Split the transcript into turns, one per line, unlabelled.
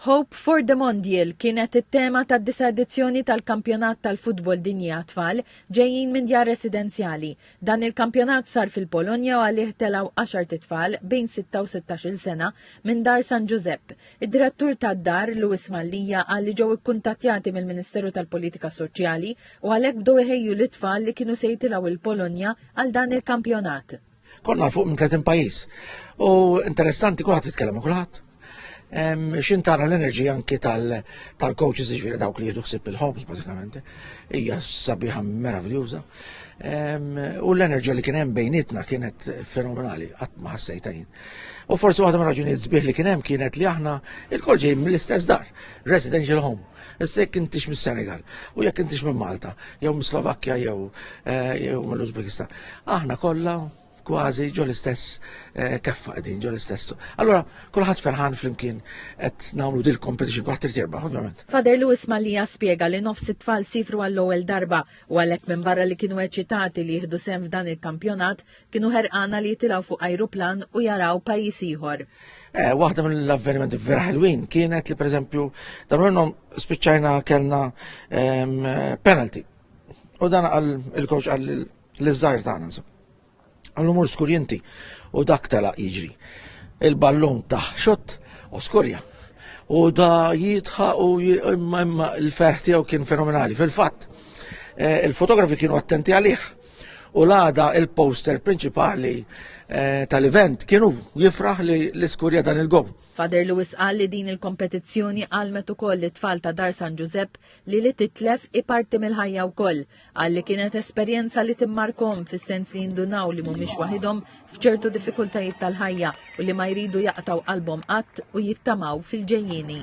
Hope for the Mondial kienet it-tema tad-disa' edizzjoni tal-Kampjonat tal-Futbol Dinji għat-Tfal ġejjin minn djar residenzjali. Dan il-kampjonat sar fil-Polonja u għalih telgħu għaxart itfal bejn sitta u sittax-il sena minn Dar San Ġużepp. Id-Direttur tad-Dar, Louis Mallia qal li ġew ikkuntattjati mill-Ministeru tal-Politika Soċjali u għalhekk bdew iħejju lit-tfal li kienu se jitilgħu il-Polonja għal dan il-kampjonat. Konna fuq minn
30 pajjiż. U interessanti kulħadd jitkellem ma' kulħadd. Xin tara l-enerġija anki tal-coaches ġifieri dawk li jieħdu ħsieb il-ħobż bażikament. Hija sabiħa meraviljuża. U l-enerġija li kien hemm bejnietna kienet fenomenali, qatt ma ħassejta jien. U forsi waħda mir-raġunijiet sbieħ li kien hemm kienet li aħna il-kol ġejjin mill-istess dar, residential home. Issa jekk intix mis-Senegal, u jekk intix minn Malta, jew mis Slovakkja jew eh, jew mill-Uzbekistan. Aħna kollha kważi ġo l-istess eh, keffa qegħdin ġo l-istess. Allora, kulħadd ferħan flimkien qed nagħmlu dil competition kulħadd irid jerbaħ ovvjament. Fader Lewis Malija
spjega li nofs it-tfal sifru għall-ewwel darba u għalhekk minn barra li kienu eċitati li jieħdu sem f'dan il-kampjonat, Kienu ħerqana li jitilgħu fuq ajruplan u jaraw pajjiż ieħor. Eh, waħda minn
l-avvenimenti vera ħelwin kienet li pereżempju dan minnhom spiċċajna kellna ehm, penalty. U dan għal il-coach għal l-żgħir tagħna insomma. Għallu mur skurjenti u dak tela jiġri. Il-ballun taħ xott u skurja. U da jitħa u l-ferħ tiegħu kien fenomenali. Fil-fatt, eh, il-fotografi kienu attenti għalih U l-għada il-poster prinċipali eh, tal-event kienu jifraħ li l-iskurja dan il-gow. Fader Lewis qal li
din il-kompetizzjoni għalmet ukoll li tfal ta' Dar San Ġużepp li li titlef i parti mill-ħajja wkoll. Qal li kienet esperjenza li timmarkom fis-sens li jindunaw li mhumiex waħidhom f'ċertu diffikultajiet tal-ħajja u li ma jridu jaqtaw qalbhom qatt u jittamaw fil-ġejjini.